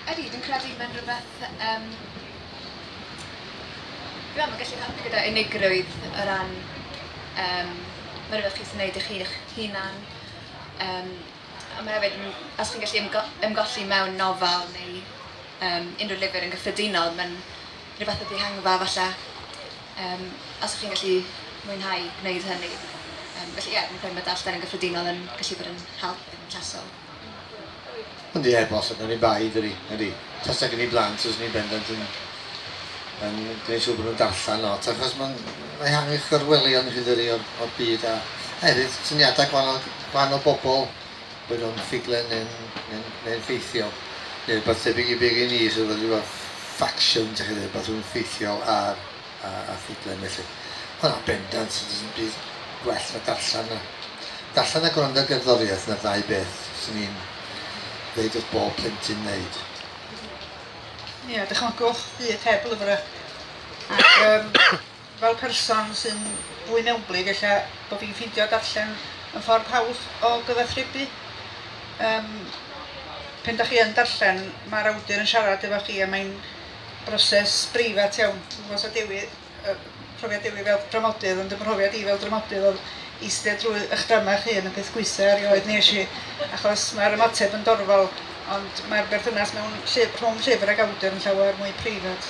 Ydy, dwi'n credu mae'n rhywbeth yym dwi'n meddwl mae'n gallu helpu gyda unigrwydd o ran um, mae rhywbeth chi'n gwneud i chi eich hunan. Um, a mae hefyd, os chi'n gallu ymgo ymgolli mewn nofel neu um, unrhyw lyfr yn gyffredinol, mae'n rhywbeth o dihangfa falle, um, os chi'n gallu mwynhau gwneud hynny. Um, felly ie, yeah, dwi'n credu mae darllen yn gyffredinol yn gallu bod yn help yn llesol. Ond ie, boss, ac oni bai, dydi, ydi, tasa gen i blant fyswn i'n bendant yn yn gwneud siŵr bod nhw'n darllen lot, achos mae'n ehangu chyrwelion hyd yri o'r, o'r byd, a, a hefyd syniadau gwahanol, gwahanol bobl, bod nhw'n ffuglen neu'n neu, neu ffeithiol, neu rhywbeth tebyg i be gen i, sydd wedi bod ffacsiwn, ti'n chi, rhywbeth rhywun ffeithiol ar a ffuglen felly. Na, bendant, does dim byd gwell na darllen na darllen a gwrando ar gerddoriaeth, na'r ddau beth sy'n ni'n ddeud wrth bob plentyn wneud. Ie, dychmygwch byd heb lyfrau. Ac um, fel person sy'n fwy mewnblyg, ella bod fi'n ffeindio darllen yn ffordd hawdd o gyfathrebu. Um, pen da chi yn darllen, mae'r awdur yn siarad efo chi a mae'n broses breifat iawn. Dwi'm yn gwybod os oedd Dewi yy profiad Dewi fel dramodydd ond fy mhrofiad i fel dramodydd oedd eistedd drwy eich drama eich hun y peth gwaetha' erioed wnes i achos mae'r ymateb yn dorfol ond mae'r berthynas mewn lly- rhwng llyfr ac awdur yn llawer mwy preifat.